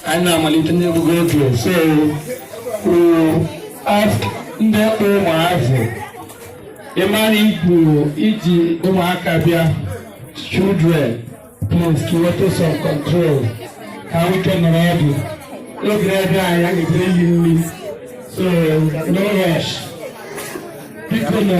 anyị na-amalite n'egwu redio so we ask ndị kpụ ụmụazị ị mara ị kpụ i ji ụmụaka bịa children please put some control ka ha nwee ike nọrọ ọdụ oge ebe anyị a ga-ebere yi nri so no rush biko nụ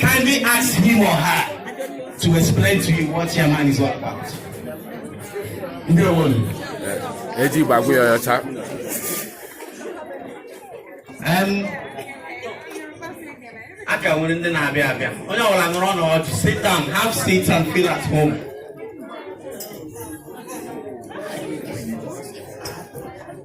Kindly ask him or her to explain to you what your man is all about. Ndewonu. Eji gbagwe ọyọ cha. Um, a ka nwere ndị na-abịa abịa onye ọbụla nọrọ n'ọdụ sit down have seats and feel at home.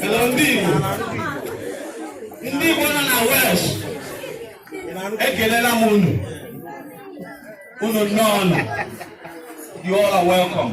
Hello, ndị Igbo. Ndị Igbo nọ na West. Ekelela m unu. Unu nnọọ nụ. You all are welcome.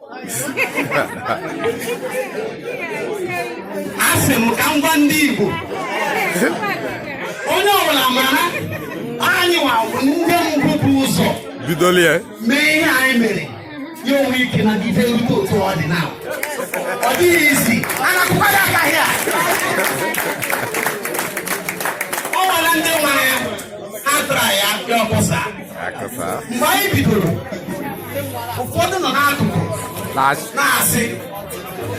asị m ka m gwa ndị Igbo onye ọbụla mara anyị nwa ndị mbụ bu ụzọ bidolie ya mee ihe anyị mere ya enwee ike na-adịde rute otu ọ dị na ọ dịghị easy a na-akụkwadị aka here o nwere ndị nwere ihe ha tara ya because mgbe anyị bidoro ụfọdụ nọ n'akụkụ na-asị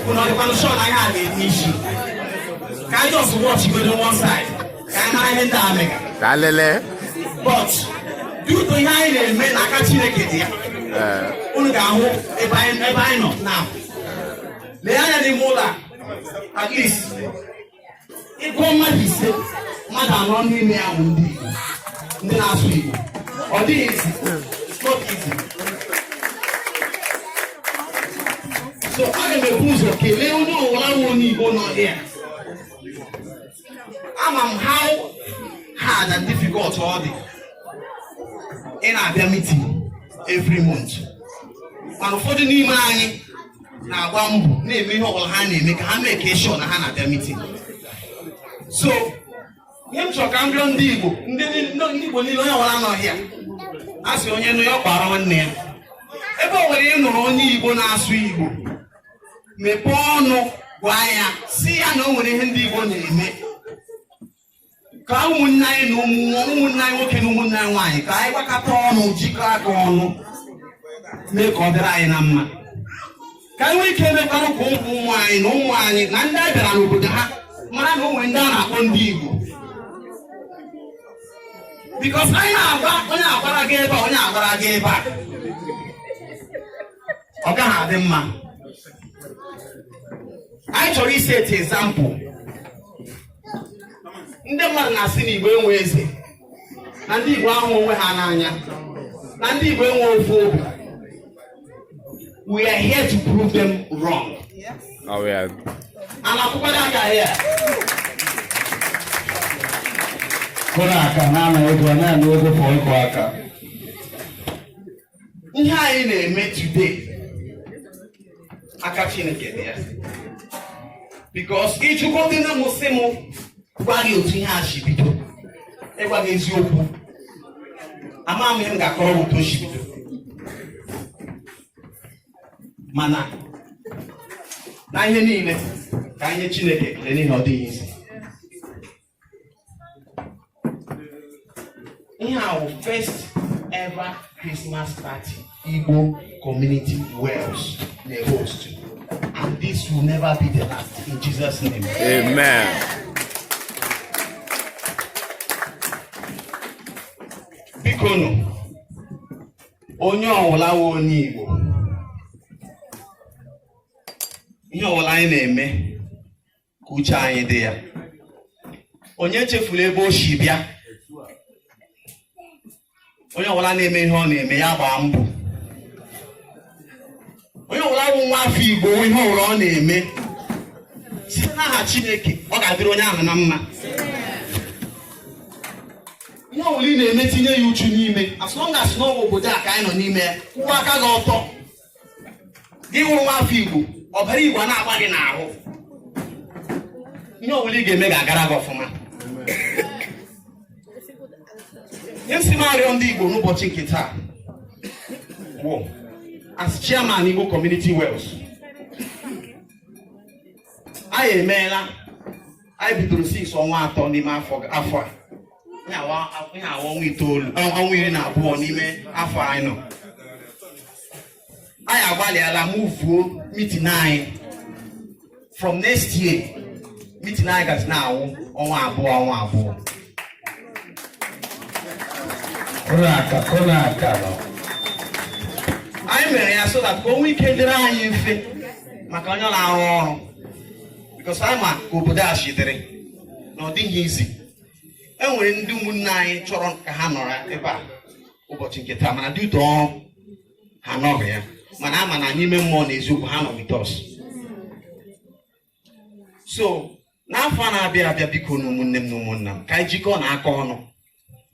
unu ọ dịkwanụ sure na ihe a na-enwe isi ka anyị just watch godi one side ka anyị mara ihe ndị a mega but due to ihe anyị na-eme na aka chineke dị ya unu ga-ahụ ebe anyị nọ now lee anya n'ime ụlọ a at least ị gụọ mmadụ ise mmadụ anọ n'ime ya bụ ndị Igbo ndị na-asụ Igbo ọ dịghị easy it's not easy so aga m ebu ụzọ kelee onye ọwụla wụ onye Igbo nọ here ama m how hard and difficult ọ dị ị na-abịa meeting every month mana ụfọdụ n'ime anyị na-agba mbọ na-eme ihe ọbụla ha na-eme ka ha make sure na ha na-abịa meeting so ihe m chọrọ ka m rịọ ndị Igbo ndị Igbo niile onye ọbụla nọ here a sị onye nụ ya ọ kpara nwanne ya ebe o nwere ị nụrụ onye Igbo na-asụ Igbo mepee ọnụ gwa ya sị ya na o nwere ihe ndị Igbo na-eme ka ụmụnne anyị na ụmụnne anyị nwoke na ụmụnne anyị nwaanyị ka anyị gbakọta ọnụ jikọọ aka ọnụ mee ka ọ dịrị anyị na mma ka anyị nwee ike emekwanụ ka ụmụ ụmụ anyị na ụmụ anyị na ndị a bịara n'obodo ha mara na o nwere ndị a na-akpọ ndị Igbo because anyị na-agba onye agbara gaa ebe a onye agbara gaa ebe a ọ gaghị adị mma anyị chọrọ iseti example ndị mmadụ na-asị na igbo enwe eze na ndị igbo ahụ onwe ha n'anya na ndị igbo enwe ofu obi we are here to prove them wrong oh, yeah. a na-akụkwa aka ya kụrụ aka na-ana ego na-ana ego for ịkụ aka ihe anyị na-eme today aka Chineke dị ya because ị jụgodị na m sị m gwa gị otu ihe a si bido ịgwa gị eziokwu ama m ihe m ga-akọrọ otu o si bido mana na ihe niile ka anyị nye Chineke ekele n'ihi ọ dịghị easy ihe a wụ first ever Christmas party Igbo community Wales na-host and this will never be the last in Jesus name. Amen. Bikonụ onye ọwụla wụ onye Igbo ihe ọwụla anyị na-eme ka uche anyị dị ya onye echefula ebe o si bịa onye ọwụla na-eme ihe ọ na-eme ya gbaa mbọ onye ọwụla bụ nwa afọ igbo ihe ọwụla ọ na-eme site n'aha chineke ọ ga-adịrị onye ahụ na mma ihe ọwụla ị na-eme tinye ya uchu n'ime as long as na ọ bụ obodo a ka anyị nọ n'ime ya kwụwa aka gị ọtọ gị wụrụ nwa afọ igbo ọbara igbo a na-agba gị n'ahụ ihe ọwụla ị ga-eme ga-agara gị ọfụma ihe m sị m arịọ ndị igbo n'ụbọchị nke taa bụ as chairman igbo community Wales anyị emeela anyị bidoro since ọnwa atọ n'ime afọ a ihe a wụ ọnwa itoolu ọnwa iri na abụọ n'ime afọ anyị nọ anyị agbalịala muvuo meeting anyị from next year meeting anyị gazi na-awụ ọnwa abụọ ọnwa abụọ anyị mere ya so that ka o nwee ike dịrị anyị mfe maka onye na-arụ ọrụ because anyị ma ka obodo a shi dịrị na ọ dịghị easy e nwere ndị ụmụnne anyị chọrọ ka ha nọrọ ebe a ụbọchị nke taa mana due to ọrụ ha anọghị ya mana a ma na n'ime mmụọ na eziokwu ha nọ with us so n'afọ a na-abịa abịa bikonụ ụmụnne m na ụmụnna m ka anyị jikọọnụ aka ọnụ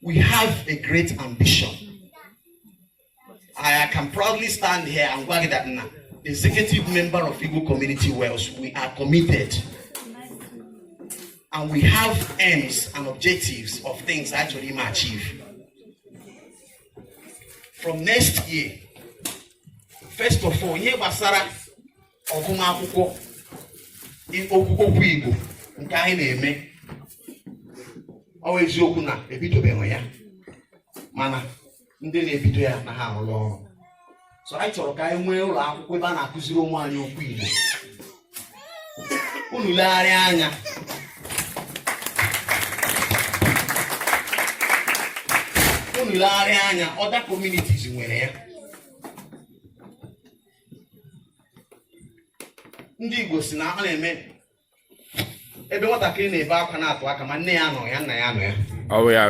we have a great ambition I can proudly stand here and gwa gị that na the executive member of Igbo Community Wales, we are committed and we have aims and objectives of things a chọrọ ime achieve. From next year, first of all, ihe gbasara ọgụmakwụkwọ okwu Igbo nke anyị na-eme ọ wụ eziokwu na ebidobeghị ya mana ndị na-ebido ya na ha arụrụ ọrụ so anyị chọrọ ka anyị nwee ụlọ akwụkwọ ebe a na-akụziri ụmụ anyị okwu Igbo unu legharịa anya unu legharịa anya other communities nwere ya ndị Igbo sị na ọ na-eme ebe nwatakịrị na-ebe akwa na-atụ aka ma nne ya nọ ya nna ya nọ ya ọ bụ ya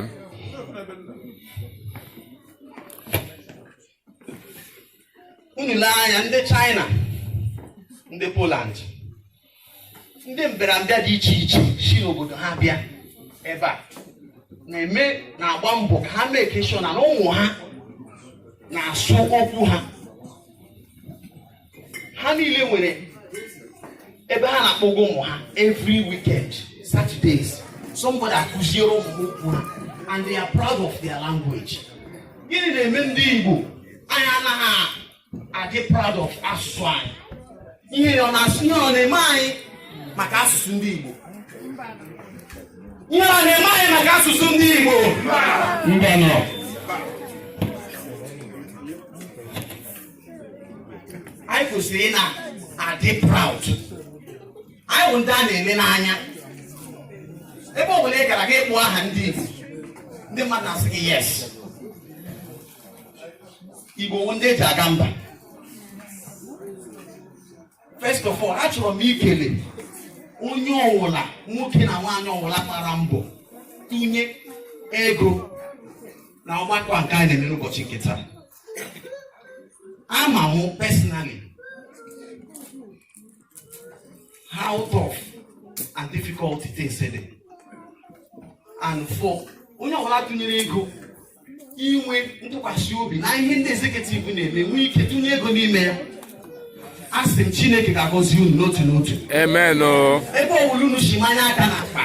unu lee anya ndị China ndị Poland ndị mbịarambịa dị iche iche si n'obodo ha bịa ebe a na-eme na-agba mbọ ka ha make sure na ụmụ ha na-asụ okwu ha ha niile nwere ebe ha na-akpọga ụmụ ha every weekend Saturdays somebody akụziere ụmụ ha okwu ha and they are proud of their language gịnị na-eme ndị Igbo anyị anaghị adị proud of asụsụ anyị ihere ọ na-asụ ihere ọ na-eme anyị maka asụsụ ndị Igbo ihere ọ na-eme anyị maka asụsụ ndị Igbo mbanụ anyị kwesịrị ị na-adị proud anyị bụ ndị a na-ele n'anya ebe ọ bụla ị gara gị kpọọ aha ndị Igbo ndị mmadụ na-asị gị yes Igbo wụ ndị eji aga mba first of all achọrọ m ikele onye ọwụla nwoke na nwaanyị ọwụla gbara mbọ tụnye ego na ọgbakọ nke anyị na-eme n'ụbọchị nke taa ama m personally how tough and difficult it is today and for onye ọbụla tụnyere ego inwe ntụkwasị obi na ihe ndị executive na-eme nwee ike tụnye ego n'ime ya asị m chineke ga-agọzi unu n'otu n'otu amen o ebe ọbụla unu si manye aka n'akpa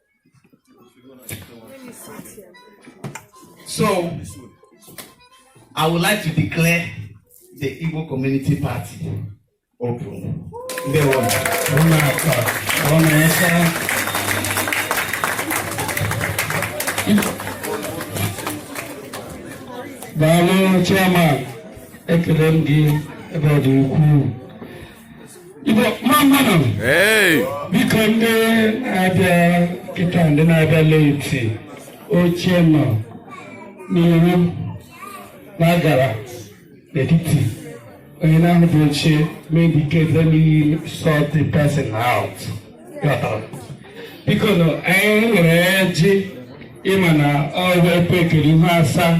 So, I would like to declare the Igbo Community Party open. Ndewo. Daalụ chairman ekele m gị ebe ọ dị ukwuu biko ndị na-abịa kịta ndị na-abịa late oche nọ n'iru na-agara n'etiti onye na-ahụbeghị oche may indicate let me sort person out biko nụ anyị nwere ọjị ị ma na ọrụ ekwe ekele ihu asaa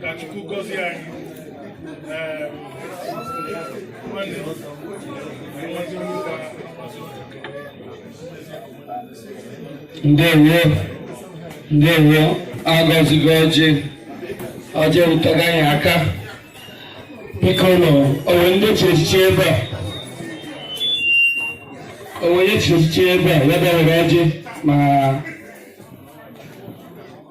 ka Chukwu gọzie anyị nwanne ndewo ndewo agọzigo ọjị ọjị erutago anyị aka biko nụ o nwee ndị chi echichi ebe a o nwee onye chi echichi ebe a ya bịa were ọjị ma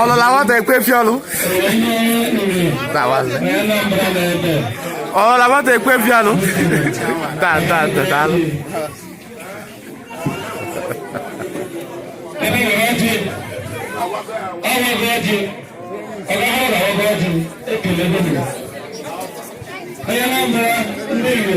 ọlụ la nwata ekwe fi ọlụ ọlụ la nwata ekwe fi ọlụ taa taa taa taa alụ Onye na-abụra ndị Igbo